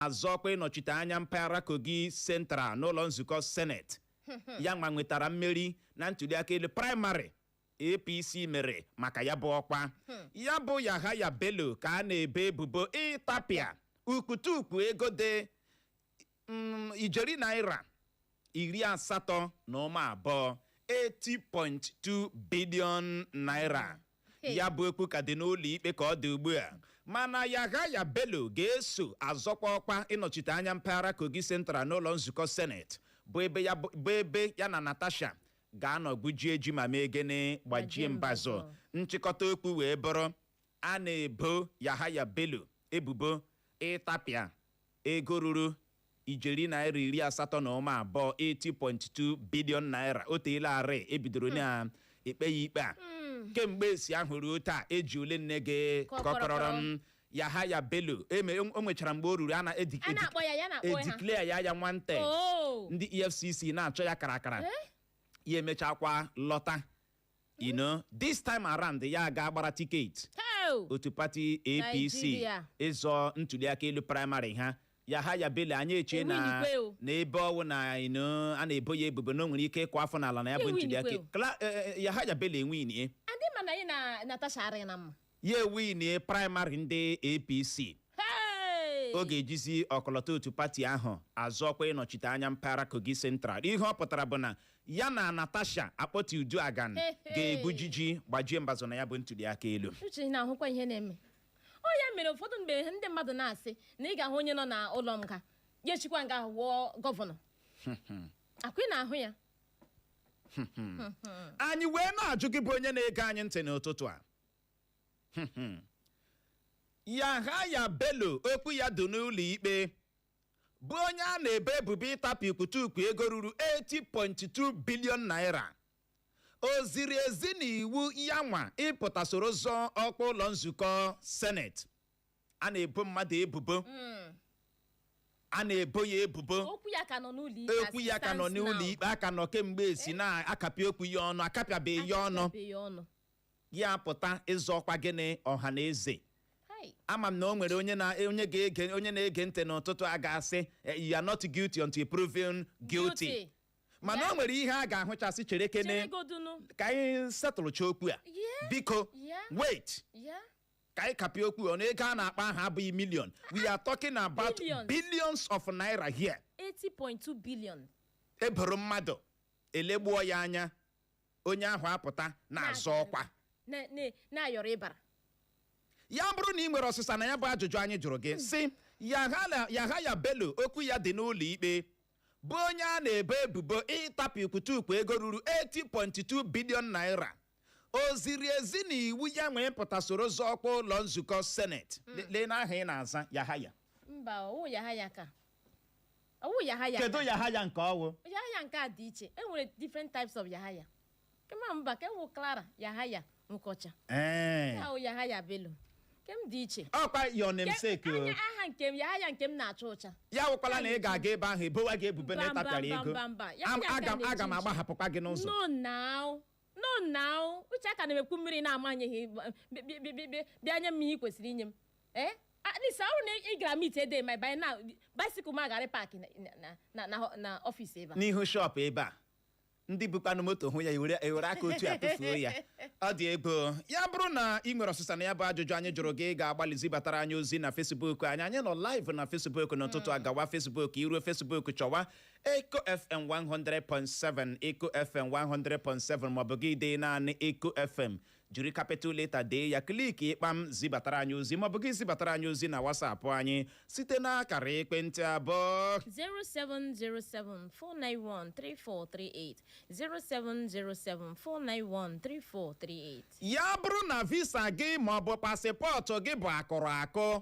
na-azọ ọkwa ịnọchite anya mpaghara Kogi Central n'ụlọ nzukọ Senate ya nwa nwetara mmeri na ntuliaka elu praịmarị APC mere maka ya bụ ọkwa ya bụ Yahaya Bello ka a na-ebo ebubo ịtapịa ukwutukwu ego dị ijeri naira iri asatọ na ụma abụọ 80.2 billion naira ya bụ okwu ka dị n'ụlọ ikpe ka ọ dị ugbu a mana Yahaya Bello ga-eso azọkwa ọkwa ịnọchite anya mpaghara Kogi Central n'ụlọ nzukọ seneti bụ ebe ya na Natasha ga-anọ gwujie ji ma mee gịnị gbajie mbazụ nchịkọta okwu wee bụrụ a na-ebo Yahaya Bello ebubo ịtapịa Ego ruru ijeri naira iri asatọ na ụma abụọ 80.2 billion naira o teela arị e bidoro na-ekpe ya ikpe a kemgbe esi ahụ ruo taa e ji ole nne gị kọkọrọrọ m Yahaya Bello eme o nwechara mgbe o ruru a na-edi- A na-akpọ ya, ya na-akpọ ha. edeclare ya wanted Oh. ndị EFCC na-achọ ya karakara ya emechakwa lọta you know this time around ya aga gbara tiketi Heo! otu pati APC Nigeria. ịzọ ntuliaka elu praịmarị ha Yahaya Bello anyị eche na Ewinigwe o. na ebe ọ wụ na you know, a na-ebo ya ebubo na o nwere ike ịkụ afọ n'ala na ya bụ Ewinigwe ntuliaka o. Kla- eh, eh, Yahaya Bello ewinie Adị ma na anyị na Natasha arịghị na mma. ya ewinie praịmarị ndị APC Hey! ọ ga-ejizi ọkọlọtọ otu pati ahụ azọ ọkwa ịnọchite anya mpaghara Kogi Central ihe ọ pụtara bụ na ya na Natasha Akpoti Uduaghan Hey, hey. ga-egwuji ji gbajie mbazụ na ya bụ ntuliaka elu uche ị na-ahụkwa ihe na-eme ọ ya mere ụfọdụ mgbe ndị mmadụ na-asị na ị ga-ahụ onye nọ na ụlọ nga ya eshikwa nga ahụ wụọ gọvanọ akwa ị na-ahụ ya anyị wee na-ajụ gị bụ onye na-ege anyị ntị n'ụtụtụ a Yahaya Bello okwu ya dị n'ụlọikpe bụ onye a na-ebo ebubo ịtapịa ukwutukwu ego ruru 80.2 billion naira o ziri ezi na iwu ya nwa ịpụta soro zọọ ọkwa ụlọ nzukọ seneti a na-ebo mmadụ ebubo a na-ebo ya ebubo okwu ya ka nọ n'ụlọ ikpe okwu ya ka nọ n'ụlọ ikpe a ka nọ kemgbe esi na-akapị okwu ya ọnụ akapịabeghị ya ọnụ ikpe ya apụta ịzọ ọkwa gịnị ọha na eze Hai. ama m na o nwere onye na- onye ga-ege onye na-ege ntị n'ụtụtụ a ga-asị "Eh, you are not guilty until proven guilty Guilty. mana o nwere ihe a ga-ahụchasị chere kene Chere godunu. ka anyị setụlụcha okwu a Yeah. biko Yeah. wait Ya. ka anyị kapịa okwu ọnụ ego a na-akpa aha abụghị million we are talking about Billions. billions of naira here 80.2 billion. e boro mmadụ elegbuo ya anya onye ahụ apụta na-azọ ọkwa Na- na- na-ayọrọ ịbara ya bụrụ na ị nwere ọsịsa na ya bụ ajụjụ anyị jụrụ gị sị Yahala- yahaya bello okwu ya dị n'ụlọ ikpe bụ onye a na-ebo ebubo ịtapụ ikwutukwu ego ruru 80.2 billion naira o ziri ezi na iwu ya nwee pụta soro zọọ ọkwa ụlọ nzukọ seneti Le- lee n'aha ị na-aza yahaya mba ọ wụ yahaya ka ọ wụ yahaya kedu yahaya nke ọ wụ yahaya nke a dị iche e nwere different types of yahaya kema mba ka e nwee clara yahaya nke ọcha ee ahụ yahaya bello nke m dị iche ọ kwa your namesake o anya aha nke m yahaya nke m na-acha ụcha ya wụkwala na ị ga-aga ebe ahụ e bowa gị ebubo na Mba, mba, ị tapịara mba, ego mba, mba. Ya Am- ya aga m ka aga m na-eji nji. agbahapụkwa gị n'ụzọ no now no now uche aka na-emekwu mmiri na-amanyeghị b- b- b- b- b- bịa nye m ihe ị kwesịrị inye m ee at least ọ bụrụ na ị gara mit ede my by now bicycle m agarị paakị na- na- na- na- na ọfịs ebe a n'ihu shọpụ ebe a ndị bukwanụ moto hụ ya ewere ewere aka otu a tụfuo ya ọ dị egwu ya bụrụ na ị nwere ọsịsa na ya bụ ajụjụ anyị jụrụ gị ị ga-agbalị zibatara anyị ozi na fesbuk anyị anyị nọ live na fesbuk n'ụtụtụ a gawa fesbuk i ruo fesbuk chọwa Eko FM 100.7 Eko FM 100.7 maọbụ gị dee naanị Eko FM jiri capital leta dee ya kliki ịkpam zibatara anyị ozi maọbụ gị zibatara anyị ozi na wasapụ anyị site n'akara ekwentị a bụ 07074913438 07074913438 ya bụrụ na visa gị maọbụ pasịpọtụ gị bụ akụrụ akụ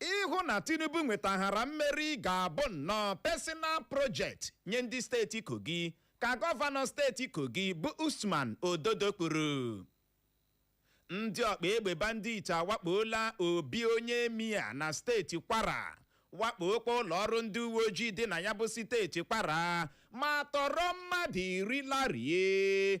Ịhụ na Tinubu nwetaghara mmeri ga-abụ nnọọ personal project nye ndị steeti Kogi, ka gọvanọ steeti Kogi bụ Usman Ododo kwuru. Ndị ọkpa egbe bandit awakpoola obi onye Emir na steeti Kwara, wakpookwa ụlọọrụ ndị uweojii dị na ya bụ steeti Kwara ma tọrọ mmadụ iri larie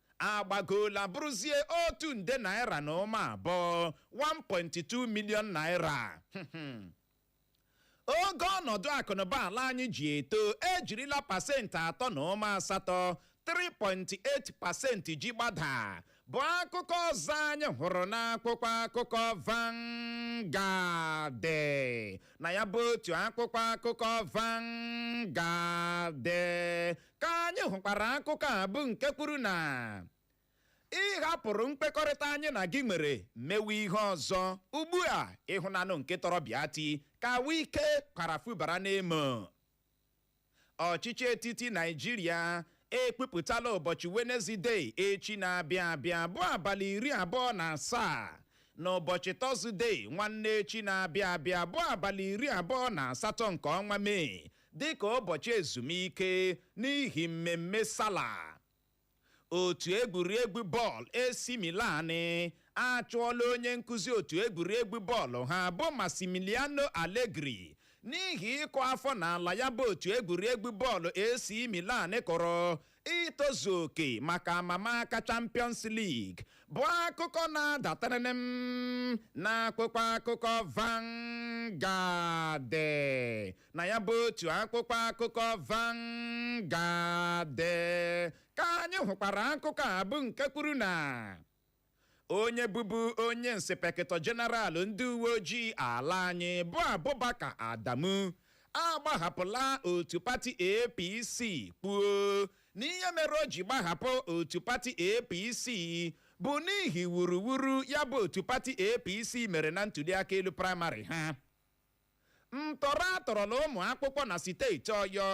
agbagoola bụrụzie otu nde naira na ụma abụọ 1.2 million naira oge ọnọdụ akụnụba ala anyị ji eto ejirila pasentị atọ na ụma asatọ 3.8 pasentị ji gbada bụ akụkọ ọzọ anyị hụrụ n'akwụkwọ akụkọ Vanguard na ya bụ otu akwụkwọ akụkọ Vanguard ka anyị hụkwara akụkọ a bụ nke kwuru na ị hapụrụ nkwekọrịta anyị na gị nwere mewe ihe ọzọ ugbu a ị hụnanụ nke tọrọ Bịatị ka wike kwara fubara n'emo ọchịchị etiti naijiria ekwupụtala ụbọchị wenezdee echi na-abịa abịa bụ abalị iri abụọ na asaa na ụbọchị tọzdee nwanne echi na-abịa abịa bụ abalị iri abụọ na asatọ nke ọnwa mee dịka ụbọchị ezumike n'ihi mmemme sala otu egwuregwu bọọlụ AC Milan achụọla onye nkụzi otu egwuregwu bọọlụ ha bụ Massimiliano Allegri n'ihi ịkụ afọ n'ala ya bụ otu egwuregwu bọọlụ AC Milan kọrọ itozu oke maka amamaka Champions League bụ akụkọ na-adatarịrị m n'akwụkwọ akụkọ Vanguard na ya bụ otu akwụkwọ akụkọ Vanguard ka anyị hụkwara akụkọ a bụ nke kwuru na onye bụbu onye inspekịtọ jeneralụ ndị uwe ojii ala anyị bụ Abubakar Adamu agbahapụla otu pati APC kwuo na ihe mere o ji gbahapụ otu pati APC bụ n'ihi wuruwuru ya bụ otu pati APC mere na ntuliaka elu praịmarị ha Ntọrọ a tọrọla ụmụ akwụkwọ na steeti Ọyọ.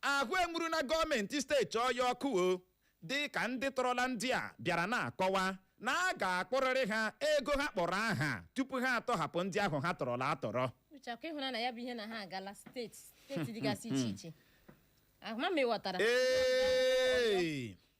Ahụ enwuruna gọọmenti steeti Ọyọ ọkụ o dịka ndị tọrọla ndị a bịara na-akọwa na a ga-akwụrịrị ha ego ha kpọrọ aha tupu ha atọhapụ ndị ahụ ha tọrọla atọrọ. Ucheakụ ịhụna na ya bụ ihe na ha agala steeti steeti dịgasị iche iche ahụma ma ị ghọtara Ee!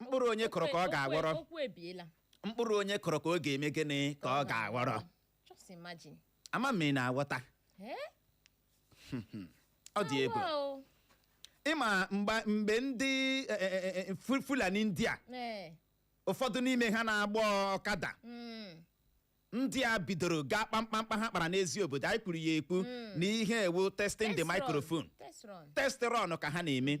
mkpụrụ onye kụrụ ka ọ ga-aghọrọ okwu ebiela mkpụrụ onye kụrụ ka ọ ga-eme gịnị ka ọ ga-aghọrọ just imagine ama m ị na-aghọta Eh? ọ dị egwu Awa o. ịma mgba- mgbe ndị e, e, e, e, Fu- fulani ndị a Eh. ụfọdụ n'ime ha na-agba ọkada Mm. ndị a bidoro gaa kpaa mkpamkpa ha kpara n'Eziobodo anyị kwuru ya ekwu na ihe a wụ testing the Test run. microphone Test run. test run ka ha na-eme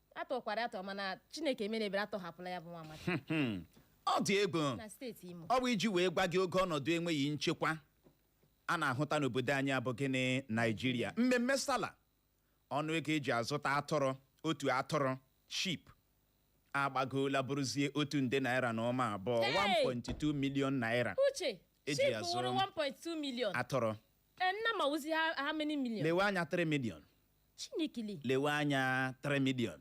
a tọkwara atọ mana chineke emena ebere a tọhapụla ya bụ nwa amadi Hmm. ọ dị egwu na steeti imo ọ bụ iji wee gwa gị ogo ọnọdụ enweghị nchekwa a na-ahụta n'obodo anyị a bụ gịnị naijiria mmemme sala ọnụ ego e ji azụta atụrụ otu atụrụ sheep agbagoola bụrụzie otu nde naira na ụma abụọ Hey! 1.2 million naira uche E ji sheep azụ- wụrụ 1.2 million atụrụ Eh, nnama wụzi ha- how many million lewe anya 3 million chineke le lewe anya 3 million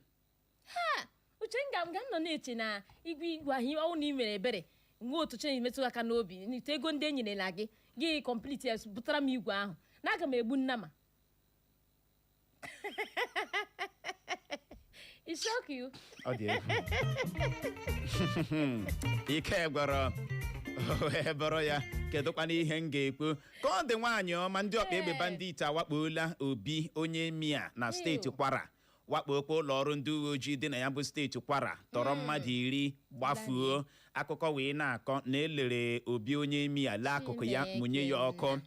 uche m ga- m ga nọ na-eche na igwe igwe ahụ ọ wụ na ị mere ebere nwe otu chenji metụ aka n'obi n'ite ego ndị e nyerela gị gị complete ya butara m igwe ahụ na aga m egbu nnama It shock you. ọ dị egwu ike gwụrụ o wee bụrụ ya kedụkwana ihe m ga-ekwu ka ọ dị nwaanyị ọma ndị ọkpa egbe bandit awakpoola obi onye Emir na steeti kwara wakpokwa ụlọ ọrụ ndị uwe ojii dị na ya bụ steeti kwara tọrọ mmadụ iri gbafuo akụkọ wee na-akọ na e lere obi onye Emir lee akụkụ ya mụnye ya ọkụ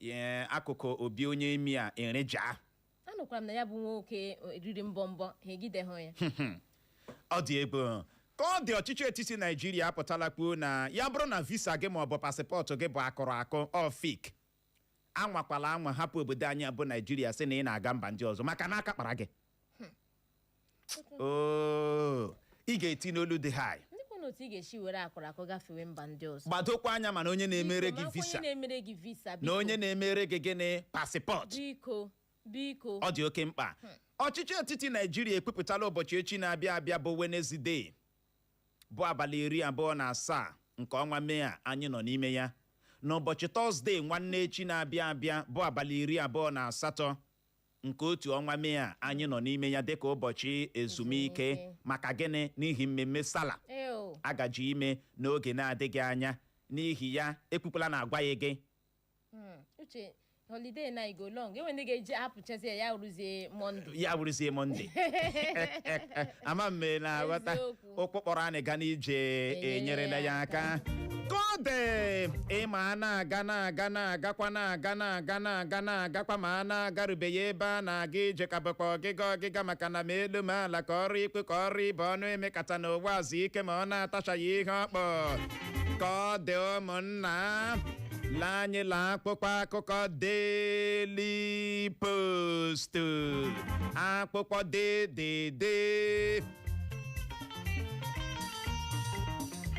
Ee, akụkụ obi onye Emir ereja anụkwara m na ya bụ nwoke riri mbọ mbọ ha egideghị ya ọ dị egwu ka ọ dị ọchịchị etiti naijiria apụtala kwuo na ya bụrụ na visa gị ma ọ bụ pasịpọtụ gị bụ akụrụ akụ or fake anwakwala anwa hapụ obodo anyị bụ naijiria sị na ị na-aga mba ndị ọzọ maka na aka kpara gị oo ị ga-eti n'olu dị high ndị kwụ n'otu ị ga-esi were akụrụ akụ gafewe mba ndị ọzọ gbadokwa anya mana onye na-emere gị Biko, makwa visa onye na-emere gị visa na biko. onye na-emere gị gịnị pasịpọtụ biko biko ọ dị oke mkpa ọchịchị etiti naijiria ekwupụtala ụbọchị echi na-abịa abịa bụ wenezdee bụ abalị iri abụọ na asaa nke ọnwa mee a anyị nọ n'ime ya n'ụbọchị tọzdee nwanne echi na-abịa abịa bụ abalị iri abụọ na asatọ nke otu ọnwa mee a anyị nọ n'ime ya dịka ụbọchị ezumike Ezumike. maka gịnị n'ihi mmemme sala Ee o. a gaji ime n'oge na-adịghị anya n'ihi ya ekwukwala na agwaghị gị Mm, Uche holiday na go long enwe ndị ga-eji apụchazi ya ya rụzie Monday. ya wụrụzie mọnde ama m na aghọta Eziokwu. ụkwụ kpọrọ anyị ga n'ije enyerela ya aka ka ọ dị ịma a na-aga na-aga na-agakwa na-aga na-aga na-aga na-agakwa ma a na-agarubeghị ebe a na-aga ije ka bụkwa ọgịga ọgịga maka na ma elu ma ala ka ọ rị ikwu ka ọ rị ibe ọnụ emekata na ụwa ezu ike ma ọ na-atachaghị ihe ọ kpụ ka ọ dị ụmụnna la anyị la akpụkpọ akụkọ Daily Post akpụkpọ dedede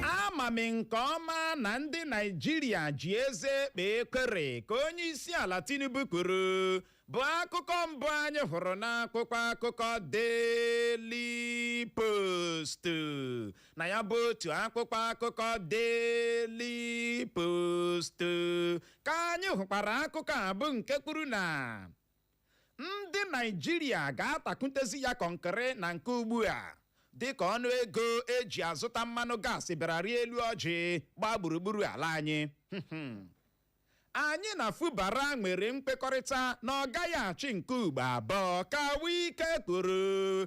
ama m nke ọma na ndị naijiria ji eze ekpe ekwere ka onye isi ala tinubu kwuru bụ akụkọ mbụ anyị hụrụ n'akpụkpọ akụkọ Daily Post na ya bụ otu akpụkpọ akụkọ Daily Post ka anyị hụkwara akụkọ a bụ nke kwuru na ndị naijiria ga-atakwutezi ya kọnkịrị na nke ugbu a dịka ọnụ ego eji azụta mmanụ gaasị bịara rịa elu ọjị gbaa gburugburu ala anyị anyị na fubara nwere mkpekọrịta na ọ gaghị achị nke ugbo abụọ ka wike kwuru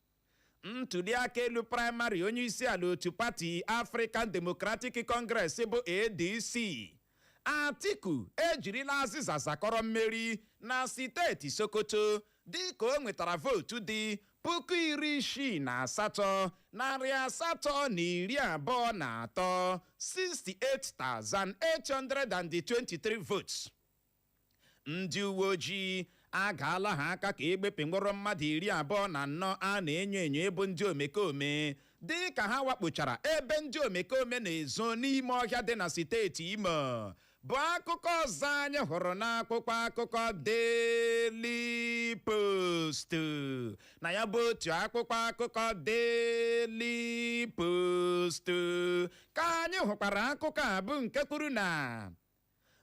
ntuliaka elu praịmarị onye isi ala otu pati African Democratic Congress bụ ADC Atiku ejirila azịza zakọrọ mmeri na steeti Sokoto dịka o nwetara vootu dị puku iri isii na asatọ narị asatọ na iri abụọ na atọ 68,823 votes ndị uwe ojii agaala ha aka ka egbepe mkpọrọ mmadụ iri abụọ na anọ a na-enyo enyo ịbụ ndị omekome dị ka ha wakpochara ebe ndị omekome na-ezo n'ime ọhịa dị na steeti Imo bụ akụkọ ọzọ anyị hụrụ n'akwụkwọ akụkọ Daily Post na ya bụ otu akwụkwọ akụkọ Daily Post ka anyị hụkwara akụkọ a bụ nke kwuru na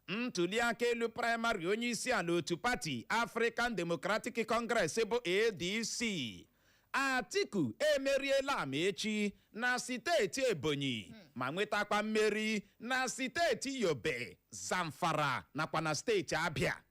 Ntuliaka elu praịmarị onyeisiala otu pati African Democratic Congress bụ ADC. Atiku emeriela Amaechi na steeti Ebonyi ma nwetakwa mmeri na steeti Yobe, Zamfara nakwa na steeti Abịa.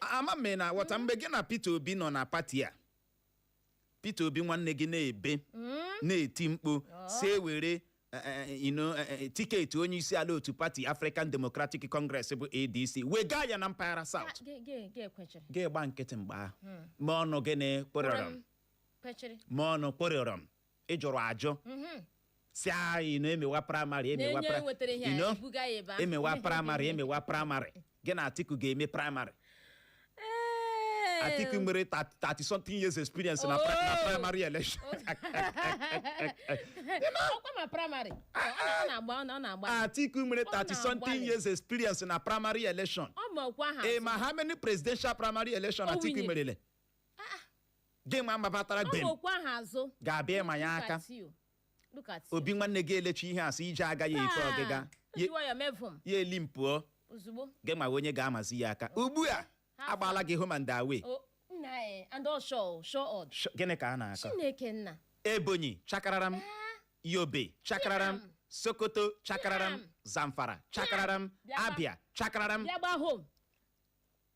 ama m na aghọta mgbe gị na Peter Obi nọ na pati a Peter Obi nwanne gị na-ebe na-eti mkpu sị e were eh, eh, you know, eh, eh, tiketi onye isi ala otu pati African Democratic Congress bụ ADC wega ya na mpaghara South Ge- ge- ge kwechiri gị gba nkịtị mgbe ahụ ma ọnụ gị na-ekwerọrọ m kwechiri ma ọnụ kpụrịọrọ m ị jụrụ ajụ mhm. sị anyị na emewa praịmarị emewa emewa praịmarị emewa praịmarị gị na Atiku ga-eme praịmarị Atiku nwere 30 something years experience na oh. primary election. Atiku nwere 30 something years experience na primary election. Ị ma how many presidential primary election Atiku merele? gị ma mabatara Ọ gben okwu ahụ azụ. ga-abịa ịma ya Look aka at you. Look at you. Obi nwanne gị elechi ihe asị ije agaghị efe Taa, ọgịga o ji nwayọọ mevu m ya eli m pụọ ozugbo. gị ma onye ga-amazi ya aka ugbu a agbaala gị home and away O, nna e, and all sure, sure odd. Sh- gịnị ka a na-akọ Chineke nna. Ebonyi chakararam Yobe chakararam Bịam. Sokoto chakararam Bịam. Zamfara chakararam Bịa gba- Abịa chakararam Bịa gba home.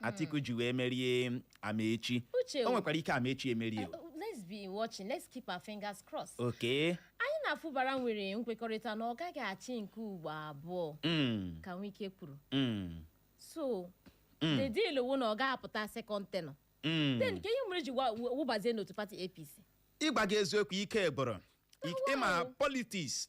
Atiku ji wee merie Amaechi Uche, o nwekwara ike Amaechi emerie o. Uh, let's be watching let's keep our fingers crossed okay anyị na Fubara nwere nkwekọrịta na ọ gaghị achị nke ugbo abụọ Mm, ka Wike kwuru mm, so Mm. the deal wụ na ọ ga-apụta second tenure mm. then ka ihe mere ji wa- wụ- wụbazie n'otu pati APC ịgwa gị eziokwu ike gwụrụ Wow. ịma politiks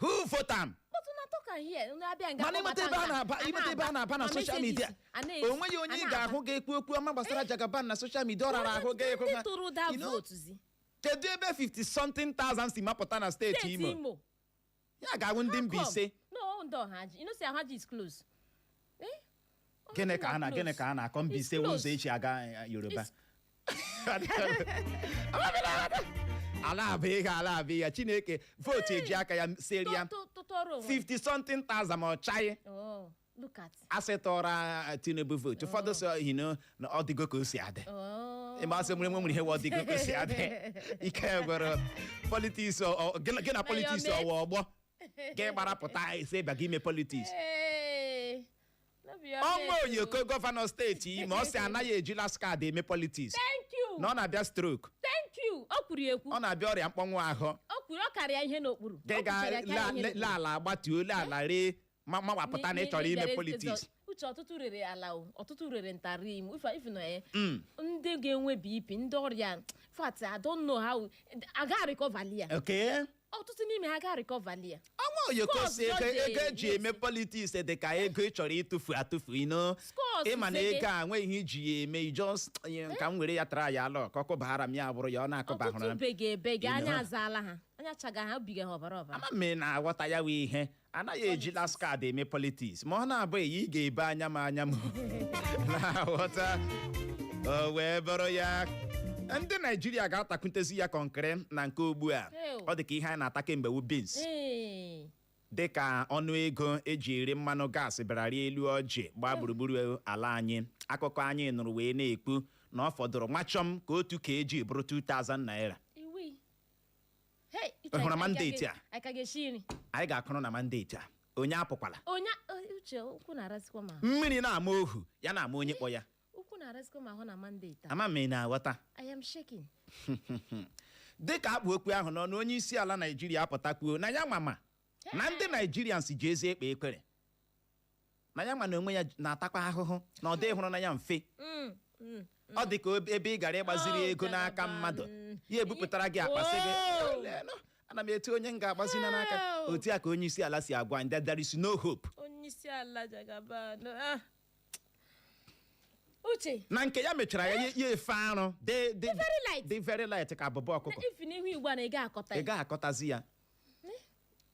who vote am Kpọtụ na tọka hie unu abịa nga mana ịmata ebe a na-aba ịmata ebe a na-aba na soshal midia o nweghị onye ị ga-ahụ ga-ekwu okwu ọma gbasara Jagaban na soshal midia ọ rara ahụ ga-ekwu ndị ha tụrụ ụda You know, vootu zi kedu ebe 50 something thousand si mapụta na steeti steeti Imo Imo ya ga-awụ ndị Mbaise no ndị Ọhaji you know say Ọhaji is close Eh, gịnị ka a na gịnị ka a na-akọ Mbaise wụ ụzọ e ji aga eh, yoruba ala abụ ihe ala abụ ihe chineke vootu eji aka ya seri ya Tụ- tụ- tụtọrọ onwe 50 something thousand ma ọ chaghị Oh, look at a sị tụọrọ eh, tinubu vootu ụfọdụ sị you know na ọ dịgo ka o si adị Oh. ị ma a sị nwere nwere ihe wụ ọ dịgo ka o si adị ike gwụrụ politiks ọ- ọ- gị na- gị na politiks your ọ wụ ọgbọ ka ị gbara pụta sị ị bịa gị ime politiks Hey, no be your ọnwa mate, oyoko oh. gọvanọ steeti Imo ọ sị anaghị eji last card eme politiks thank you na ọ na-abịa stroke thank you o kwuru ya ekwu ọ na-abịa ọrịa mkpọnwụ ahụ o kwuru ọ kara ya ihe n'okpuru ka ị O kwuchara ya kara ya ihe n'okpuru. ga-ala agbatuo le ala ree ma ma wapụta na ị chọrọ ime N'igere politiks ntụzọ- uche ọtụtụ rere ala o ọtụtụ rere ntarị im ife ife nọ ya Mm. ndị ga-enwe bp ndị ọrịa fat I don't know how a ga recover ya okay ọtụtụ n'ime ha ga recoverli ya ọnwa oyoko Scores sị ego just dey ego eji eme yes. politiks dị ka ego ị chọrọ ịtụfu atụfu you know Scores ị ma na sege. ego a nweghị ihe ị ji ya eme just ka m were ya try luck ọ kụbara m ya bụrụ ya ọ na-akụbahụrụ ọtụtụ m bege ebege You anya know. azaala ha anya chaga ha obiga ha ọbara ọbara ama m ị na-aghọta ya wee ihe anaghị eji last card eme politiks ma ọ na-abụghị ya ị ga-ebe anya m anya m na-aghọta o wee bụrụ ya ndị naijiria ga-atakwutezi ya kọnkịrị na nke ugbu a Ew. ọ dị ka ihe anyị na-ata kemgbe wu beans Ee. dị ka ọnụ ego eji ere mmanụ gaasị bịara rịa elu ọjị gbaa gburugburu ala anyị akụkọ anyị nụrụ wee na-ekwu na ọ fọdụrụ nwachọm ka otu kg bụrụ 2000 naira Iwi. Hey, Uche, Ị hụrụ I ka mandate ga- a? I ka ga-esi nri anyị ga-akwụrụ na mandate a onye apụkwala onye eh, uche ụkwụ na-arasịkwa m ahụ mmiri na-ama ohu ya na-ama onye kpọ ya ụkwụ na-arasịkwa m ahụ na mandate a ama m ị na-aghọta I am shaking dịka a kpụ okwu ahụ n'ọnụ onye isi ala naijiria apụta kwuo na ya mama na ndị naijirians ji ezi ekpe ekpere na ya nwa n'onwe ya na-atakwa ahụhụ na ọ dịhụrụ na ya mfe Mm, mm. ọ dị ka ob- ebe ị gara ịgbaziri Oh, ego n'aka Jagaban. mmadụ ya ebupụtara gị akpa sị gị Wow. "Eh, leenụ, ana m etu onye m ga-agbazina n'aka Wow. otu a ka onye isi ala si agwa anyị that there is no hope onye isi ala Jagaban no, ah. uche na nke ya mechara ya ya efe arụ dị dị- very light. dị very light ka abụba ọkụkọ ifi n'ihu igbo a na ị ga-akọta ị ya gaghị akọtazi ya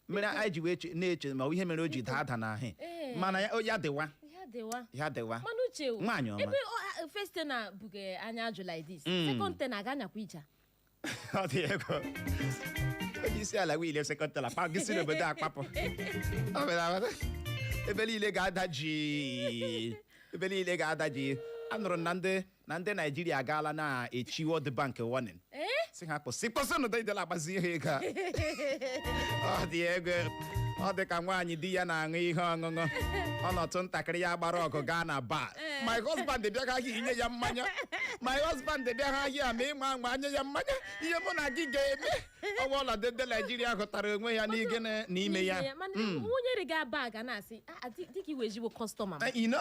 mere anyị ji wee che- na-eche ma ọ bụ ihe mere o ji daa ada na ahị Ee. mana ya- ya dịwa ya dịwa ya dịwa mana uche o, Nwaanyị ọma. ebe ọ- a- first term na-ebuge anya ajụ like this Mm. second term a ga anyakwa ija ọ dị ego onye isi ala winie second term akpa gị si n'obodo a kpapụ Ọ bịara abata. ebe niile ga-ada jii ebe niile ga-ada jii anụrụ m na ndị na ndị naijiria agaala na-echi World Bank warning sị ha kwụsị kwụsịnụ dịdịla agbazi ihe ego a. ọ dị ego ọ dị ka nwaanyị di ya na-aṅụ ihe ọṅụṅụ ọ nọtụ ntakịrị ya gbara ọgụ gaa na bar my husband bịa gị ahịa ị nye ya mmanya my husband bịa gị ahịa ma ị ma anwa nye ya mmanya ihe mụ na gị ga-eme ọ wụ ọnọdụ ndị naijiria hụtara onwe ya n'ige na- n'ime ya mana nwunye rị ga bar a na-asị "Ah, ah, di- di gị wụ ezigbo kọstọma m." Eh, you know?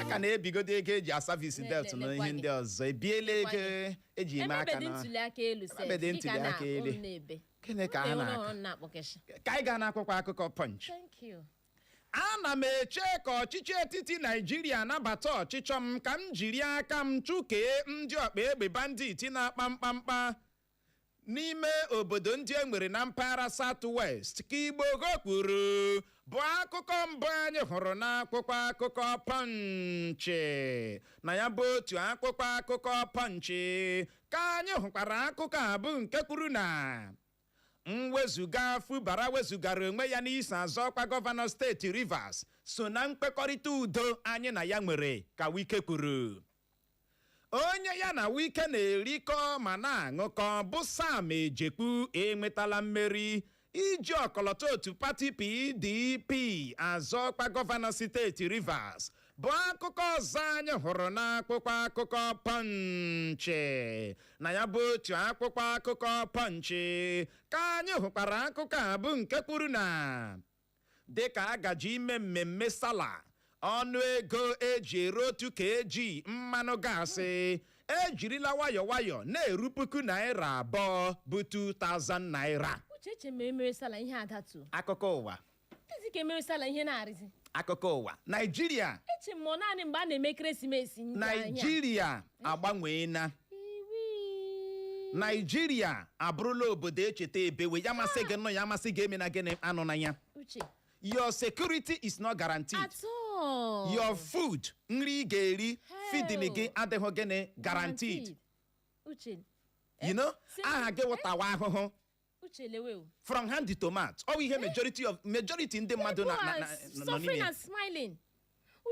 a ka na-ebigodo ego eji asavisi Ne- debt ne- na nekwa ihe gị. ndị ọzọ ebiela Nekwa ego eji eme aka emebedị na ntuli aka elu sef Emebedị dịka ntuli na aka elu. ụmụ na-ebe Gịnị ka a Ụmụ na-ebe na-akọ? ụmụ na-akpọkeshi ka anyị gaa n'akwụkwọ akụkọ punch thank you ana m eche ka ọchịchị etiti naijiria nabata ọchịchọ m ka m jiri aka m chụkee ndị ọkpa egbe banditi na-akpa mkpamkpa n'ime obodo ndị e nwere na mpaghara South West ka Igboho kwuru bụ akụkọ mbụ anyị hụrụ n'akwụkwọ akụkọ Pọnchị na ya bụ otu akwụkwọ akụkọ Pọnchị ka anyị hụkwara akụkọ a bụ nke kwuru na mwezuga Fubara wezugara onwe ya n'iso azọ ọkwa gọvanọ steeti Rivers so na nkwekọrịta udo anyị na ya nwere ka Wike kwuru onye ya na wike na-erikọ ma na-aṅụkọ bụ sam ejekwu enwetala mmeri iji ọkọlọtọ otu pati pdp azọ ọkwa gọvanọ steeti rivers bụ akụkọ ọzọ anyị hụrụ n'akwụkwọ akụkọ pọnchị na ya bụ otu akwụkwọ akụkọ pọnchị ka anyị hụkwara akụkọ a bụ nke kwuru na Dịka a gaje ime mmemme Sala, ọnụ ego eji ere otu kg mmanụ gaasị ejirila nwayọ nwayọ na-eru puku naira abụọ bụ 2000 naira. Uche eche m ma emere Sala ihe adatu. Akụkọ ụwa. Dịzi ka emere Sala ihe na-arịzi. Akụkọ ụwa. Naijiria. Eche m ọ naanị mgbe a na-eme ekeresimesi. Naijiria. agbanweela naijiria abụrụla obodo e cheta ebewe ya masị gị nọ ya masị gị emena gịnị anọna ya uche your security is not guaranteed at all your food nri ị ga-eri Hell. feeding gị adịghị gịnị guaranteed uche you know aha gị wụ tawa ahụhụ uche lewe o from hand to mouth ọ bụ ihe majority of majority ndị mmadụ na- na- na- People are nọ suffering n'ime and smiling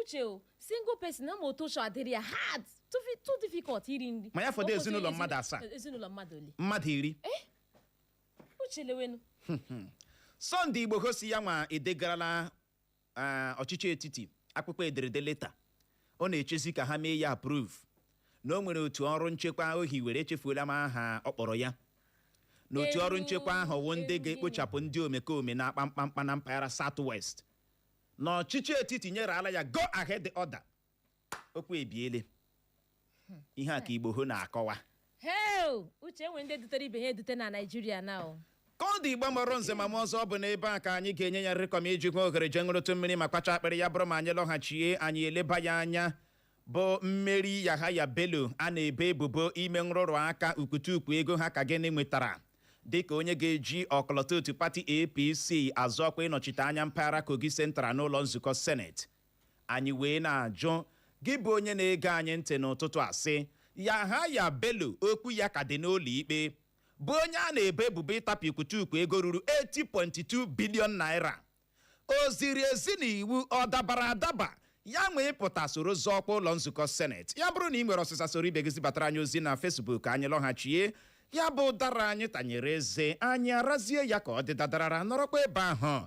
uche o single person na ma otu ụchọ adịrị ya hard too fi- too difficult iri nri Ma ya fọdụ Ọ bụ otu ezinụlọ mmadụ asaa. ezinụlọ mmadụ ole mmadụ iri uche lewenu sunday igboho sị ya nwa edegarala ah, ọchịchị etiti akwụkwọ ederede leta ọ na-echezi ka ha mee ya approve na o nwere otu ọrụ nchekwa o hiwere echefuola m aha ọ kpọrọ ya na otu ọrụ Ewu, nchekwa ahụ wụ ndị ewu. ga-ekpochapụ ndị omekome na-akpa mkpamkpa na mpaghara south west na ọchịchị etiti nyereala ya go ahead order okwu ebiele hmm. ihe a ka Igboho na-akọwa hei uche enwe ndị dutere ibe ha edute na naijiria na o ka ọ dị igbo mụrụ nze ma mụọ ọzọ ọ bụ n'ebe a ka anyị ga-enye ya nrịkọm iji nwee ohere jee ṅụrụtụ mmiri ma kwacha akpịrị ya bụrụ ma anyị lọghachie anyị eleba ya anya bụ mmeri Yahaya Bello a na-ebo ebubo ime nrụrụ aka ukwutukwu ego ha ka gịnị nwetara dịka onye ga-eji ọkọlọtọ otu pati APC azọ ọkwa ịnọchite anya mpaghara Kogi Central n'ụlọ nzukọ seneti anyị wee na-ajụ gị bụ onye na-ege anyị ntị n'ụtụtụ a sị Yahaya Bello okwu ya ka dị n'ụlọ ikpe bụ onye a na-ebo ebubo ịtapịa ukwutukwu ego ruru 80.2 billion naira o ziri ezi n'iwu ọ dabara adaba ya nwee pụta soro zọọ ọkwa ụlọ nzukọ seneti ya bụrụ na ị nwere ọsịsa soro ibe gị zibatara anyị ozi na fesbuk anyị lọghachie ya bụ ụdara anyị tanyere eze anyị arazie ya ka ọ dị dadarara nọrọkwa ebe ahụ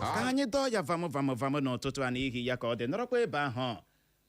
ka anyị dọọ ya vamụ vamụ vamụ n'ụtụtụ a n'ihi ya ka ọ dị nọrọkwa ebe ahụ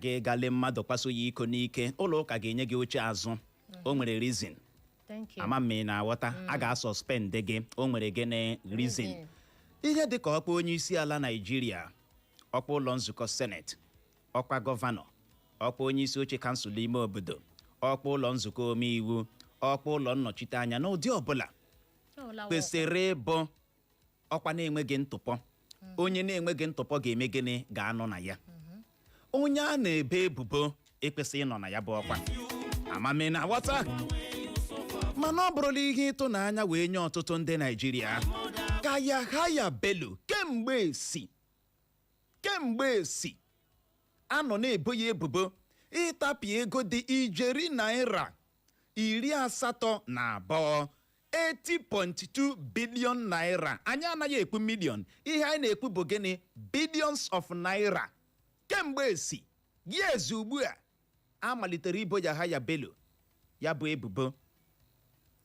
gị gale mmadụ kwaso ya iko n'ike ụlọ ụka ga-enye gị oche azụ o nwere reason ama m ma ị na-aghọta a ga-asọspendị gị o nwere gịnị reason ihe dị ka ọkwa onye isi ala naijiria ọkwa ụlọ nzukọ seneti ọkwa gọvanọ ọkwa onye isi oche kansụl ime obodo ọkwa ụlọ nzukọ omeiwu ọkwa ụlọ nnọchiteanya n'ụdị ọbụla Ọ lawa ọkwa. kwesịrị ịbụ ọkwa na-enweghị ntụpọ onye na-enweghị ntụpọ ga-eme gịnị ga-anọ na ya onye a na-ebo ebubo ekwesịghị ịnọ na ya bụ ọkwa ama m ma ị na-aghọta mana ọ bụrụla ihe ịtụnanya wee nye ọtụtụ ndị naijiria ka yahaya bello kemgbe esi kemgbe esi a nọ na-ebo ya ebubo ịtapịa ego dị ijeri naira iri asatọ na abụọ 80.2 billion naira anyị anaghị ekwu million ihe anyị na-ekwu bụ gịnị billions of naira kemgbe esi years ugbu a a malitere ibo Yahaya Bello ya bụ ebubo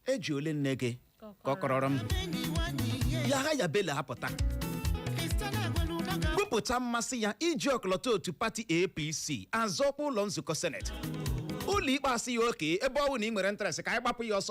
eji ole nne gị kọkọrọrọ m Yahaya Bello apụta kwupụta mmasị ya iji ọkọlọtọ otu pati APC azọ ọkwa ụlọ nzukọ seneti ụlọ ikpe asị ya okay ebe ọ bụ na ị nwere interest ka anyị gbapụ ya ọsọ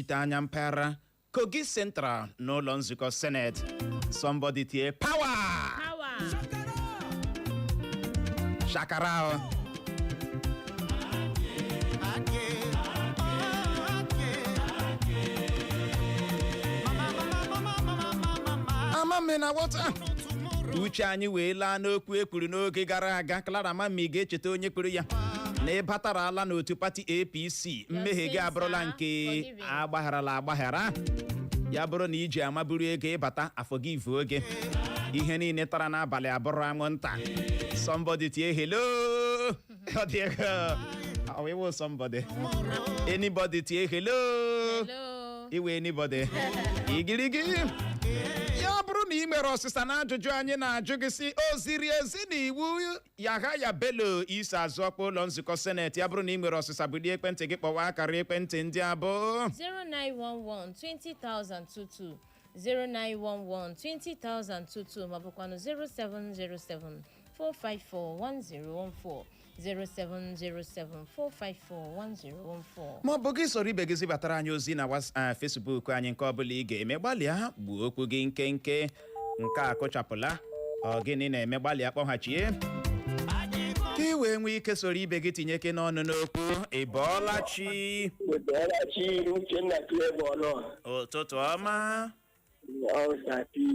na-anọchite anya mpaghara Kogi Central n'ụlọ nzukọ Senate somebody tie power Power. shakara o. ama m na wọta uche anyị wee laa n'okwu e kwuru n'oge gara aga Clara Mammy ga-echeta onye kwuru ya na ị batarala n'otu pati APC mmehie gị sins abụrụla are nke forgiven. a gbagharala agbaghara ya bụrụ na i ji ama buru ego ị bata afọ gị ivu oge ihe niile tara n'abalị abụrụ anwụnta somebody tie hello Ọ dị ego. Ọ wụ ịwụ somebody anybody tie hello Hello. iwe anybody igirigi ya bụrụ na i nwere ọsịsa n'ajụjụ anyị na-ajụ gị sị o ziri ezi na iwu Yahaya Bello iso azọ ọkwa ụlọ nzukọ seneti ya bụrụ na ị nwere ọsịsa bulie ekwentị gị kpọwa akara ekwentị ndị a bụ 0911 20022 ma ọ bụkwanụ 0707 454 1014 07074541014 ma ọ bụ gị soro ibe gị zibatara anyị ozi na was- ah, Facebook anyị nke ọbụla ị ga-eme gbalịa gbuo okwu gị nkenke nke a kụchapụla ọ gịnị na-eme gbalịa kpọghachie ka ị wee nwee ike soro ibe gị tinyekene ọnụ n'okwu ị bọọla chi Wetara chi Uche na Clara ọnụ ụtụtụ ọma ọ Sapi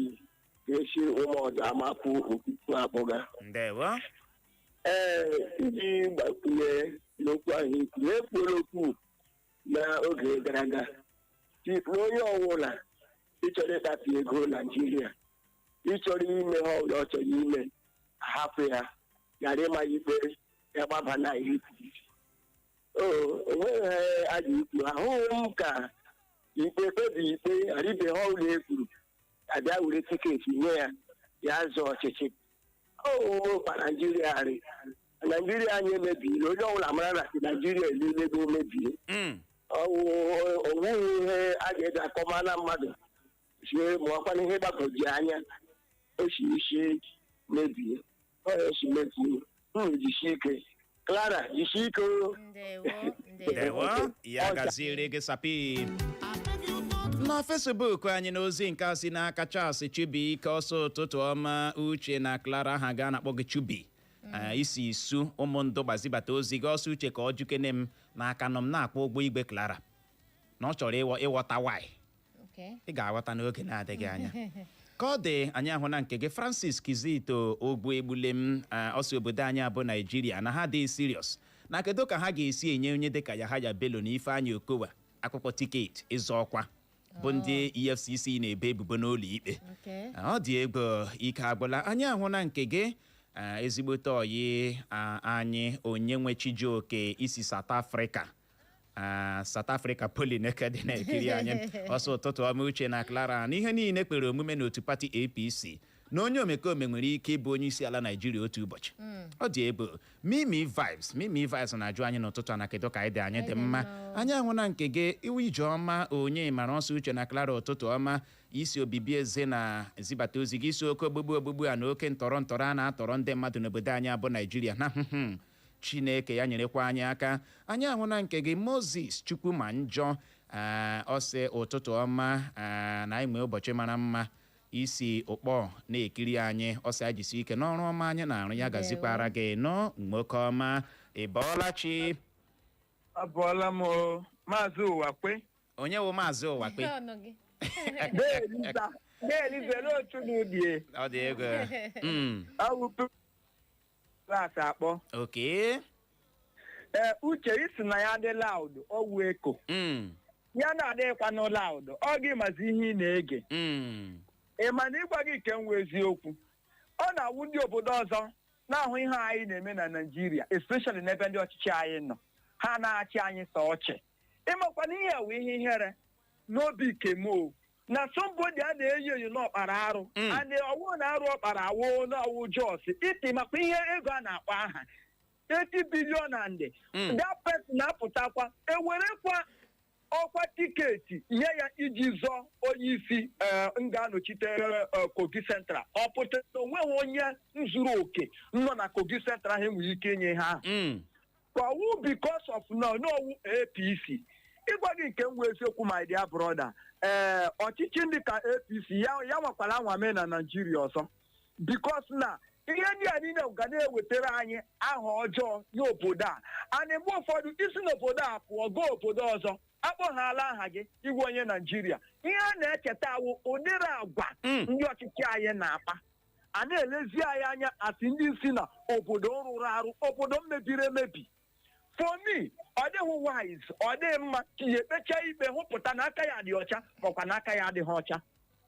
ga-esi ụmụ ọdụ Amaku Okuku akpọga. ndewo Ee, iji gbakwunye n'okwu ahụ ikwu na-ekwuola okwu n'oge gara aga. Tikwu onye ọwụla ịchọrọ ịtapụ ego naijiria ịchọrọ ime ha ọbụla ọ chọrọ ime a hapụ ya ghara ịma ya ikpe ya gbaba na ihe o nweghị ha a ga-ekwu ahụghị m ka ikpe kpebi ikpe ghara ibe ha ọbụla e kwuru a bịa were tiketi nye ya ya zọọ ọchịchị ọ wụkwa naijiria rị naijiria anyị emebiela onye ọbụla mara na si naijiria elile ego mebie Mm. o nweghị ihe a ga-eji akọma na mmadụ sie ma ọ kwa na ihe gbagwoju anya o si isi mebie ọ ya si mebie unu jisie ike clara jisie ike o ndewo ndewo ndewo ya gaziere gị sapi na fesbuk anyị n'ozi nke a si n'aka charles chubike ọ sị ụtụtụ ọma uche na clara ha ga na-akpọ gị chubi Ah, i si isu ụmụndụgba zibata ozi gị ọ sị uche ka ọ jukene m n'aka nọ m na-akwụ ụgwọ igwe clara na ọ chọrọ ịghọ- ịghọta why Okay. ị ga-aghọta n'oge na-adịghị anya ka ọ dị anyị ahụna nke gị francis kizito ogbu egbule m ah, ọ sị obodo anyị a bụ naijiria na ha dị serious na kedu ka ha ga-esi enye onye dịka yahaya bello na ifeanyị okowa akwụkwọ tiketi ịzọ ọkwa bụ ndị efcc na-ebe ebubo n'ụlọ ikpe Okay. ọ dị egwu ike agwụla anyị ahụna nke gị ah, ezigbote ọyị ah, anyị onye wụ chijioke i si south africa Ah, South Africa Poly Nekede na-ekiri anyị ọ sị ụtụtụ ọma uche na Clara na ihe niile kwere omume n'otu pati APC na onye omekome nwere ike ịbụ onye isi ala Naijiria otu ụbọchị ọ dị egwu Mimi Vibes Mimi Vibes na-ajụ anyị n'ụtụtụ a na kedu ka anyị dị anyị dị mma anyị ahụna nke gị ị wụ Ijeọma Onyemara ọ sị uche na Clara ụtụtụ ọma i si Obibiezena zibata ozi gị ị sị oke ogbugbu ogbugbu a na oke ntọrọ ntọrọ a na-atọrọ ndị mmadụ n'obodo anyị a bụ Naijiria na Chineke ya nyerekwa anyị aka. Anyị ahụna nke gị Moses Chukwuma Njọ ee ọ sị ụtụtụ ọma ee na anyị nwee ụbọchị mara mma i si Ụkpọ na-ekiri anyị ọ sị anyị jisi ike n'ọrụ ọma anyị na-arụ ya gazikwara gị nọ nwoke ọma ị bọọla chi abọọla m o, maazị ụwakwe onye wụ maazị ụwakwe Ihe ọnụ gị. deeliza deeliza ele otu n'udie ọ dị egwu Mm. awụpe klaasị akpọ Okay. ee uche ị sị na ya dị loud ọ wụ echo Mm. ya na-adịghịkwanụ loud ọ gị mazi ihe ị na-ege Mm. ị ma na ịgwa gị nke wụ eziokwu ọ na-awụ ndị obodo ọzọ na-ahụ ihe anyị na-eme na naijiria especially n'ebe ndị ọchịchị anyị nọ ha na-achị anyị sọ ọchị ị makwa na ihe wụ ihe ihere n'obi kemo na somebody a na-enyo enyo na ọ kpara arụ Mm. and ọ wụ na arụ ọ kpara awụ na ọ wụ just 80 ị makwa ihe ego a na-akpọ aha 80 billion and Mm. that person na-apụtakwa e werekwa ọkwa tiketi nye ya iji zọọ onye isi eh, ga-anọchite eh, kogi central ọ pụtara na onweghị onye nzuru oke nọ na kogi central ha nwere ike inye ha Mm. ka ọ wụ because of na ọ wụ apc ịgwa gị nke wụ eziokwu my dear brother ee ọchịchị ndị ka apc ya ya anwakwala anwa mee na naijiria ọzọ because na ihe ndị a niile ga na-ewetara anyị aha ọjọọ nye obodo a and mgbe ụfọdụ i si n'obodo a pụọ gaa obodo ọzọ a kpọhaala aha gị ị wụ onye naijiria ihe a na-echeta awụ ụdịrị agwa Mm. ndị ọchịchị anyị na-akpa a na-elezi anyị anya asị ndị si na obodo rụrụ arụ obodo mebiri emebi for me ọ dịghị wise ọ dịghị mma ka ya ekpecha ikpe hụpụta na aka ya dị ọcha makwa na aka ya adịghị ọcha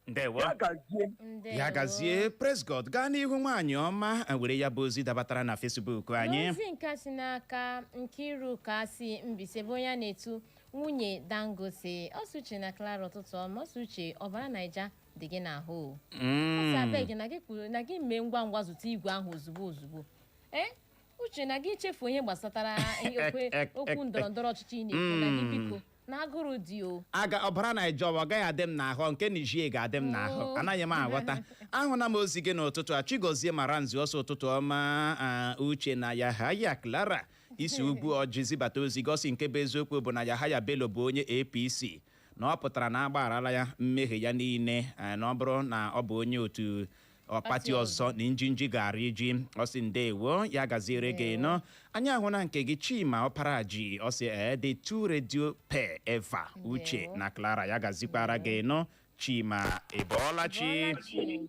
ndewo ya gazie Ndewo. ya gazie praise god gaa n'ihu nwaanyị ọma were ya bụ ozi dabatara na fesbuk anyị n'ozi nke si n'aka nkiruka si mbaise bụ onye a na-etu nwunye dangote ọ sị uche na klara ụtụtụ ọma ọ sị uche ọbara naija dị gị n'ahụ ọ Mm. sị abeg na gị kwuru na gị mee ngwa ngwa zụta igwe ahụ ozugbo ozugbo ee uche na gị chefu onye gbasatara ihe okwe- Ek- ek- okwu ndọrọ ndọrọ ọchịchị ị na-ekwu na gị Mm. biko na agụrụ dị o aga ọbara naija ọwa ọ gaghị adị m n'ahụ nke Niger ga-adị m n'ahụ Oo. anaghị m aghọta ahụla m ozi gị n'ụtụtụ a chigozie maranzu ọ sị ụtụtụ ọma a, uche na yahaya clara isi okwu o ji zibata ozi gosi nke bụ eziokwu bụ na yahaya bello bụ onye apc na ọ pụtara na a gbagharala ya mmehie ya niile eh, na ọ bụrụ na ọ bụ onye otu pati Pati ọzọ na njinji gaara iji ọ sị ndewo ya gaziere gị nnọọ anyị ahụna nke gị chima ọparaji ọ sị ee the two radio pair ever uche Ndewo. na clara ya gazikwara gị nnọọ chima ịbọọla chi Bọọla chi.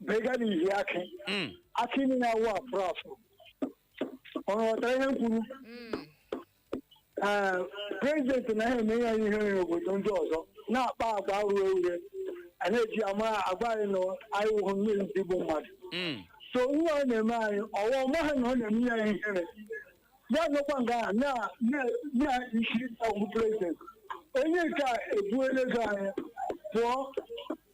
bega na ihi akị Mm. akị niile awụ afụ afụ ọ ghọtara ihe m kwuru Mm. ee prezidenti na ha eme ya ihere obodo ndị ọzọ na-akpa agwa ure ure a na-eji ama agwa anyị na anyị wụhụ mmiri ndị bụ mmadụ Mm. so ihe ọ na-eme anyị ọwa ọ maghị na ọ na-eme ya ihere ya nọkwa nga a na na- na-asị ọ wụ prezidenti onye nke a ebuela ego anyị pụọ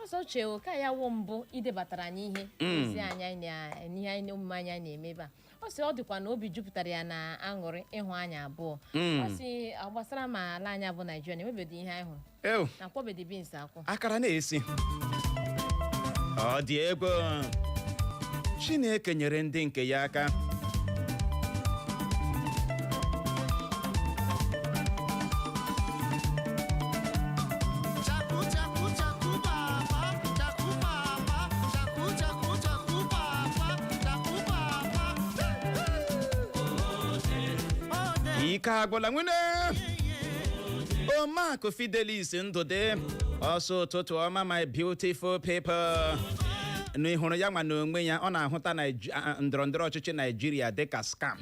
ọ sị uche o ka ya wụ mbụ idebatara anyị ihe ezi anyị anyị na- n'ihe anyị omume anyị anyị na-eme ebe a ọ sị ọ dịkwa na obi jupụtara ya na aṅụrị ịhụ anyị abụọ ọ sị ọ gbasara ma ala anyị bụ naijiria na enwebeghị ihe anyị hụrụ ew na akwọbedi bins akwọ akara na-esi ọ dị egwu chineke nyere ndị nke ya aka ike agwụla nwene omakụ fidelis ndụdị ọ sị ụtụtụ ọma my beautiful people na ị hụrụ ya nwa n'onwe ya ọ na-ahụta Naij- a- ndọrọ ndọrọ ọchịchị naijiria dịka scam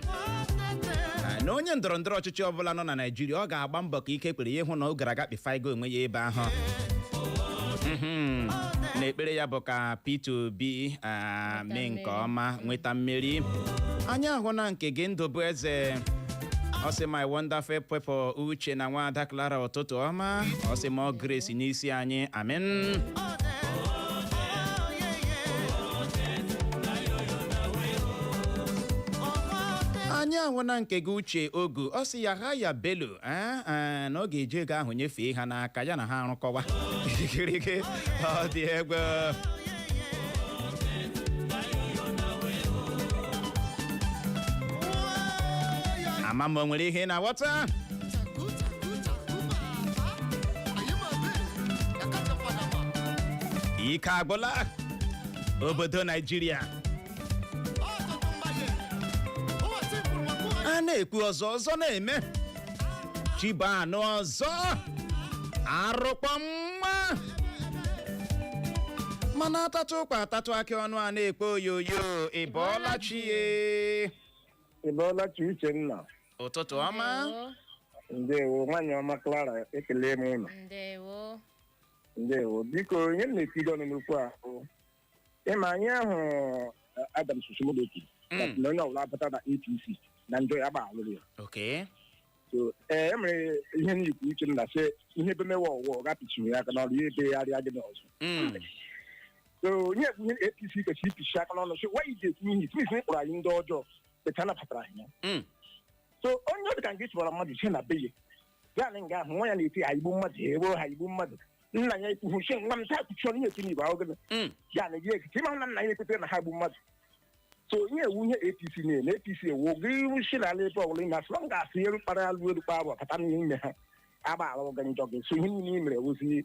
Ah, na onye ndọrọ ndọrọ ọchịchị ọbụla nọ na naijiria ọ ga-agba mbọ ka ike kwere ya ịhụ na ọ gara aga kpifaigo onwe ya ebe ahụ Mhm. na ekpere ya bụ ka Peter Obi ah, mee nke mmeri. ọma nweta mmeri anyị ahụna nke gị ndụ bụ eze ọ sị my wonderful people uche na nwaada Clara ụtụtụ ọma ọ sị more grace n'isi anyị amen anyị ahụna nke gị uche ogu ọ sị yahaya bello ee ee, na ọ ga-eji ego ahụ nyefee ha n'aka ya na ha arụkọwa ikirike ọ dị egwu ama m o nwere ihe ị na-aghọta ike agwụla obodo naijiria a na-ekwu ọzọ ọzọ na-eme chi bọọ a nụ ọzọ arụkpọ mma mana atatụ ụkwa atatụ akị ọnụ a na-ekpo oyoyo ị bọọla chi e Ị bọọla chi Uchenna. ụtụtụ ọma Ndewo. ndewo nwaanyị ọma Clara ekele m unu Ndewo. ndewo biko ihe m na-etido ọnụ n'okwu a bụ ịma na ihe ahụ eh, Adams Oshiomhole sị Mm. na onye ọbụla apụta na APC na njọ ya agbaghalụrụ ya okay so ee e mere ihe m ikwu Uchenna sị ihe ebe mewe ọwụwa ọ gapịchiri ya aka n'ọnụ ya ebe ya rịa gị n'ọzọ Mm. so onye ekwu ihe APC kwesịrị ipichi aka n'ọnụ sị why you dey ekwu ihe it means na ị kpọrọ anyị ndị ọjọọ etu anabatara anyị ya Mm. so onye ọdịka nke chụbara mmadụ ise na be ya na nga ahụ nwa ya na-eti ha igbu mmadụ ha eruo ha igbu mmadụ nna ya ekwuhu si nwa m taa kpuchie ọnụ na-eti n'igbo ahụ gịnị Mm. ya na gị nkịtị ịma na nna ya ekwetara na ha gbu mmadụ so ihe a wụ ihe apc na-eme apc ewu gị iru si n'ala ebe ọbụla ime asịrọ m ga-asị eru kpara alụ eru kpara abụ bata n'ime ha agbaghalụ gị njọ gị so ihe niile i mere ewuzi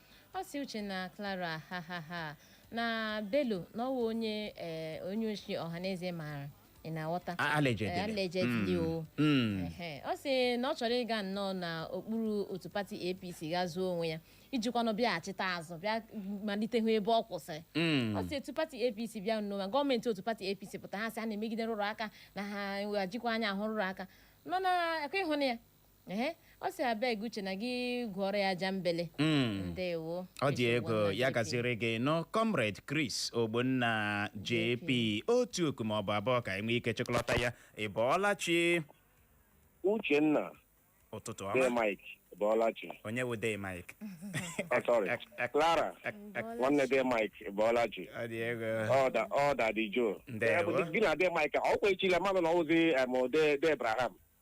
ọ sị uche na clara ha ha ha na bello na ọwụ onye eh, onye oshi ọhaneze maara ị na-aghọta A- allegedly. Eh, allegedly o Mm. Ehe. ọ sị na ọ chọrọ ịga nnọọ na okpuru otu pati apc ga zoo onwe ya ijikwanụ bịaghachite azụ bịa malite hụ ebe ọ kwụsịrị Mm. ọ sị otu pati apc bịa nnọọ ma gọọmenti otu pati apc pụta ha sị a na-emegide nrụrụ aka na ha ejikwa anya ahụ nrụrụ aka nọ na ekwe ịhụ na ya Ehe, ọ sị abeg uche na gị gwọrọ ya ajambele Mm. ndewo ọ dị Nsogbu egwu nna ya JP. gaziere gị nnọọ comrade chris ogbonna jp otu oku ma ọ bụ abụọ ka e nwee ike chịkọlọta ya ị bọọla chi uchenna ụtụtụ de ọma mike ị bọọla chi onye wụ de mike Ah, sorry clara nwanne de mike ị bọọla chi ọ dị egwu ọda ọ daddy joe Ndewo. gị na de mike ọ kwa echile mmadụ na ọwụzi em, de de abraham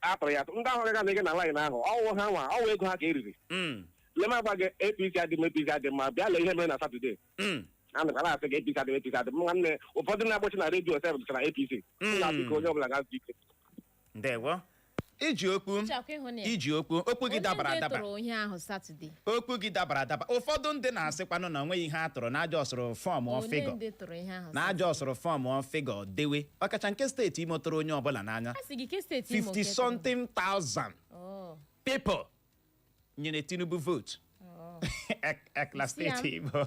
a tụrụ ya atụ ndị ahụ gaga na ege na laịn ahụ ọwụ ha nwa ọwụ ego ha ka e riri Mm, lema agwa gị apc adị m apc adị mma bịa lee ihe mere na satọde mm, a na na-asị gị apc adị m apc adị mma nwanne ụfọdụ na-agbachi na redio sef dịchara apc Mm. na biko onye ọbụla gaa zuo ike ndewo i ji okwu Chakwa ịhụ na ya. i ji okwu okwu gị Onye dabara nke adaba tụrụ ihe ahụ Satọde. okwu gị dabara adaba ụfọdụ ndị na-asịkwanụ na onweghị ihe a tụrụ na a jọsụrụ fọmụọ figure dewe ọkacha nke steeti imo tụrụ onye ọbụla n'anya 50 something thousand people nyere tinubu votu oh. ekla Si ya. steeti imo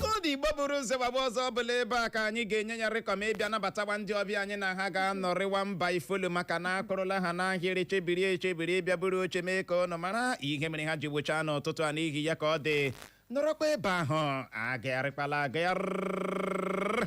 ka ndị igbo buru ụzọ gbagba ọzọ ọ bụla ebe a ka anyị ga-enye ya rịkọm ịbịa nabatawa ndị ọbịa anyị na ha ga-anọrịwa mba ifolu maka na a kwụrụla ha n'ahịrị chebiri echebiri ịbịa buru oche mee ka ụnụ mara ihe mere ha ji gbochaa n'ụtụtụ a n'ihi ya ka ọ dị nọrọkwa ebe ahụ agagharịkwala agagharị